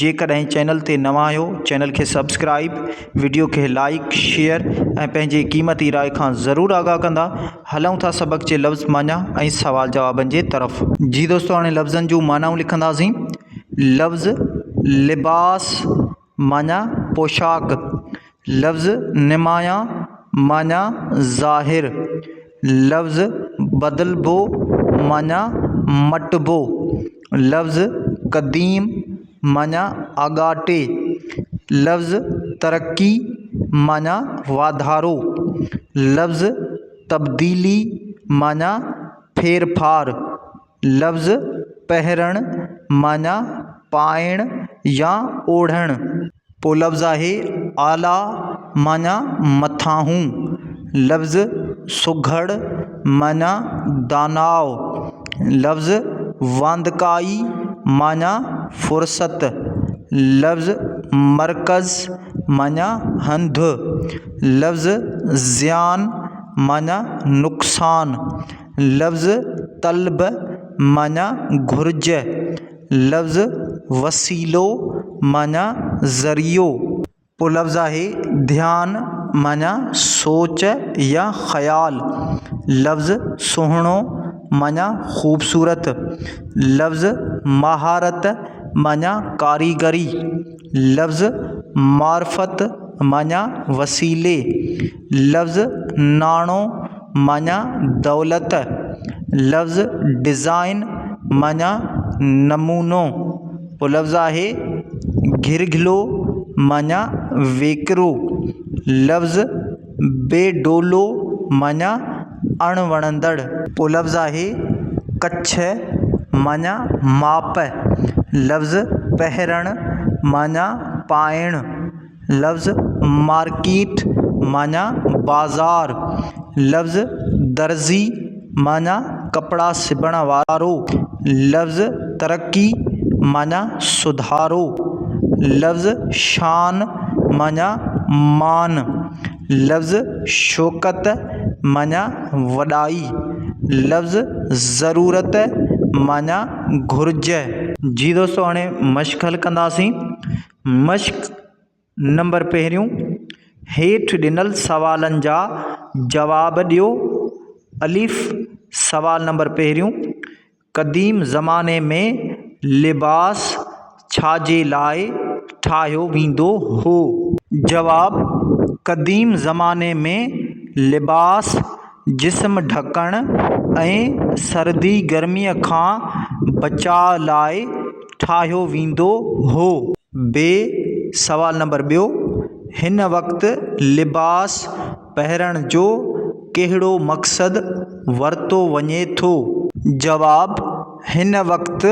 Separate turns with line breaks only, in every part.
جيڪڏهن چينل تي نوان آهيو چينل کي سبسڪرائيب وڊيو کي لائيڪ شيئر ۽ پنهنجي قيمتي راء کان ضرور آگاهه ڪندا هلون ٿا سبق جي لفظ معنيٰ ۽ سوال جوابن جي طرف. جي دوستو هاڻي لفظن جون معنائون لکنڌاسين لفظ لباس معنيٰ پوشاڪ لفظ نمايان معنيٰ ظاهر، لفظ بدلبو معنيٰ مٽبو، لفظ قديم معنيٰ آڳاٽي، لفظ ترقي معنيٰ واڌارو، لفظ تبديلي معنيٰ ڦيرڦار، لفظ پهرڻ معنيٰ پائڻ يا اوڙهڻ. پوء لفظ آهي اعليٰ معنيٰ مٿانهون. لفظ سگهڙ معنيٰ داناء. لفظ واندڪائي معنيٰ فرصت. لفظ مرڪز معنيٰ هنڌ. لفظ زيان معنيٰ نقصان. لفظ طلب معنيٰ گهرج، لفظ وسيلو معنيٰ ذريعو. پوء لفظ آهي ڌيان معنيٰ سوچ يا خيال، لفظ سهڻو معنيٰ خوبصورت، لفظ مهارت معنيٰ ڪاريگري، لفظ معرفت معنيٰ وسيلي، لفظ ناڻو معنيٰ دولت، لفظ ڊزائن معنيٰ نمونو، پوء لفظ آهي گهرگهلو معنيٰ ويڪرو، لفظ بي ڊولو معنيٰ اڻ وڻندڙ، پوء لفظ آهي ڪڇ معنيٰ ماپ، لفظ پهرڻ معنيٰ پائڻ، لفظ مارڪيٽ معنيٰ بازار، لفظ درزي معنيٰ ڪپڙا سبڻ وارو، لفظ ترقي معنيٰ سڌارو، لفظ شان معنيٰ مان، لفظ شوڪت معنيٰ وڏائي، لفظ ضرورت معنيٰ گهرج. جي دوستو هاڻي مشق حل ڪنداسين. مشق نمبر پهريون، هيٺ ڏنل سوالن جا جواب ڏيو، الف، سوال نمبر پهريون، قديم زماني ۾ لباس ڇا جي لاء ٺاهيو ويندو هو؟ جواب، قديم زماني ۾ لباس جسم ڍڪڻ ۽ سردي گرميء کان بچاء لاء ٺاهيو ويندو هو بي سوال نمبر ٻيو هن وقت لباس پهرڻ جو ڪهڙو مقصد ورتو وڃي ٿو جواب هن وقت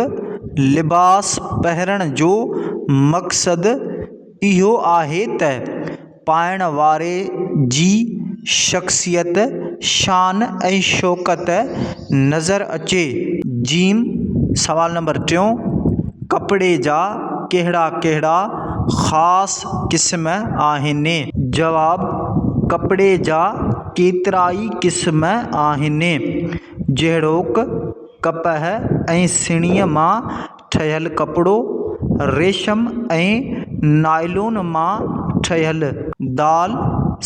لباس پهرڻ جو مقصد اهو آهي ته پائڻ واري جي شخصيت، شان ۽ شوڪت نظر اچي. ج سوال نمبر ٽيون، ڪپڙي جا ڪهڙا ڪهڙا خاص قسم آهن؟ جواب، ڪپڙي جا ڪيترائي قسم آهن، جهڙوڪ، ڪپهه ۽ سڻيء مان ٺهيل ڪپڙو، ريشم ۽ نائلون مان ٺهيل. دال،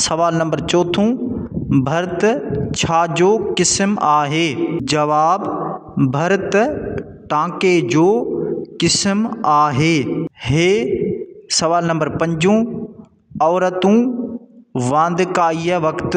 سوال نمبر چوٿون، ڀرت ڇا جو قسم آهي؟ جواب، ڀرت ٽانڪي جو قسم آهي. ه، سوال نمبر پنجون، عورتون واندڪائيء وقت.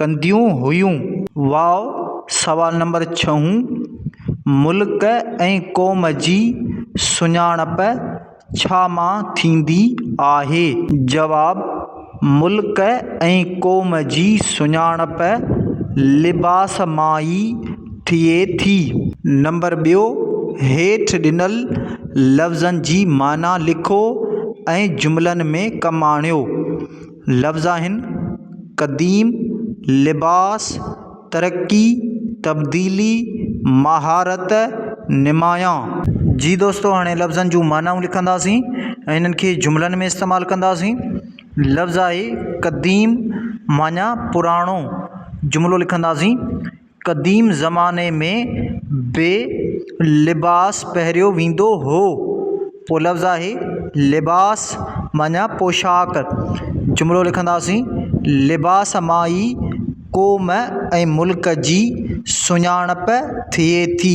ڪنديون هيون. واء سوال نمبر ڇهون، ملڪ ۽ قوم جي سڃاڻپ ڇا مان ٿيندي آهي؟ جواب، ملڪ ۽ قوم جي سڃاڻپ لباس مان ئي ٿئي ٿي. نمبر ٻيو، هيٺ ڏنل لفظن جي معنيٰ لکو ۽ جملن ۾ ڪم آڻيو. لفظ آهن، قديم، لباس، ترقي، تبديلي، مهارت، نمايان. جي دوستو هاڻي لفظن جون معنائون لکنداسين ۽ انهن کي جملن ۾ استعمال ڪنداسين. لفظ آهي قديم معنيٰ پراڻو جملو لکنداسين. قديم زماني ۾ به لباس پهريو ويندو هو پو لفظ آهي لباس معنيٰ پوشاڪ جملو لکنداسين لباس مان ئي قوم ۽ ملڪ جي سڃاڻپ ٿئي ٿي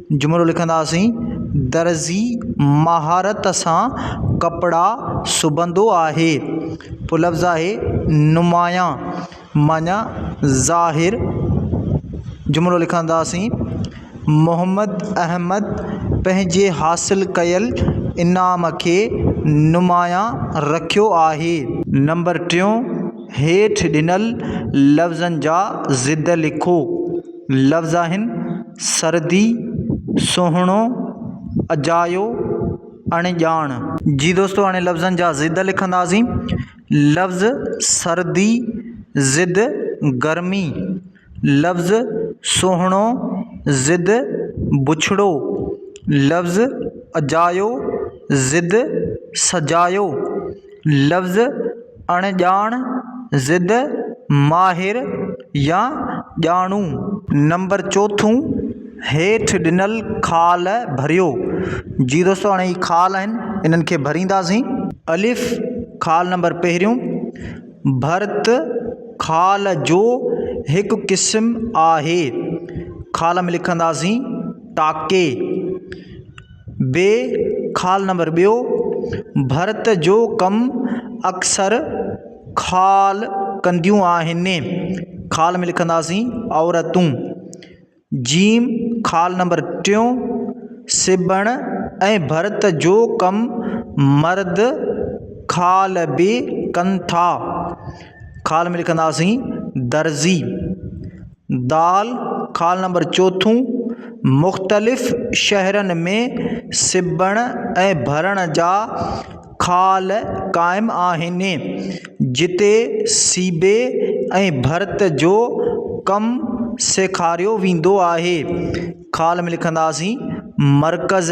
جملو لکنداسين، درزي مهارت سان ڪپڙا سبندو آهي. پوء لفظ آهي، نمايان معني ظاهر. جملو لکنداسين، محمد احمد پنهنجي حاصل ڪيل انعام کي نمايان رکيو آهي. نمبر ٽيون، هيٺ ڏنل لفظن جا ضد لکو. لفظ آهن، سردي، سهڻو، اجايو، اڻڄاڻ. جي دوستو هاڻي لفظن جا ضد لکنداسين. لفظ سردي ضد گرمي، لفظ سهڻو ضد بڇڙو، لفظ اجايو ضد سجايو، لفظ اڻڄاڻ ضد ماهر يا ڄاڻو نمبر چوٿون هيٺ ڏنل خال ڀريو جي دوستو هاڻي هي خال آهن انهن کي ڀرينداسين الف خال نمبر پهريون ڀرت خال جو هڪ قسم آهي خال ۾ لکنداسين ٽاڪي بي خال نمبر ٻيو، ڀرت جو ڪم اڪثر خال ڪنديون آهن، خال ۾ لکنداسين عورتون. جيم خال نمبر ٽيون، سبڻ ۽ ڀرت جو ڪم مرد خال به ڪن ٿا، خال ۾ لکنداسين درزي. دال خال نمبر چوٿون، مختلف شهرن ۾ سبڻ ۽ ڀرڻ جا خال قائم آهن جتي سيبي ۽ ڀرت جو ڪم سيکاريو ويندو آهي خال ۾ لکنداسين مرڪز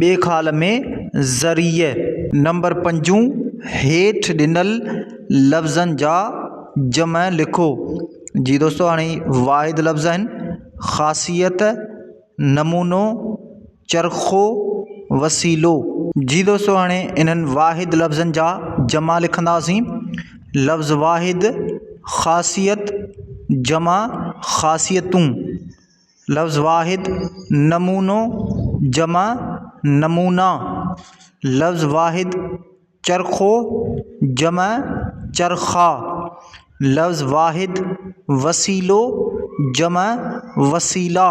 ٻئي خال ۾ ذريع نمبر پنجون هيٺ ڏنل لفظن جا جمع لکو جي دوستو هاڻي واحد لفظ آهن خاصيت نمونو چرخو وسيلو جي دوستو هاڻي انهن واحد لفظن جا جمع لکنداسين لفظ واحد خاصيت جمع خاصيتون لفظ واحد نمونو جمع نمونا لفظ واحد چرخو جمع چرخا لفظ واحد وسيلو جمع وسيلا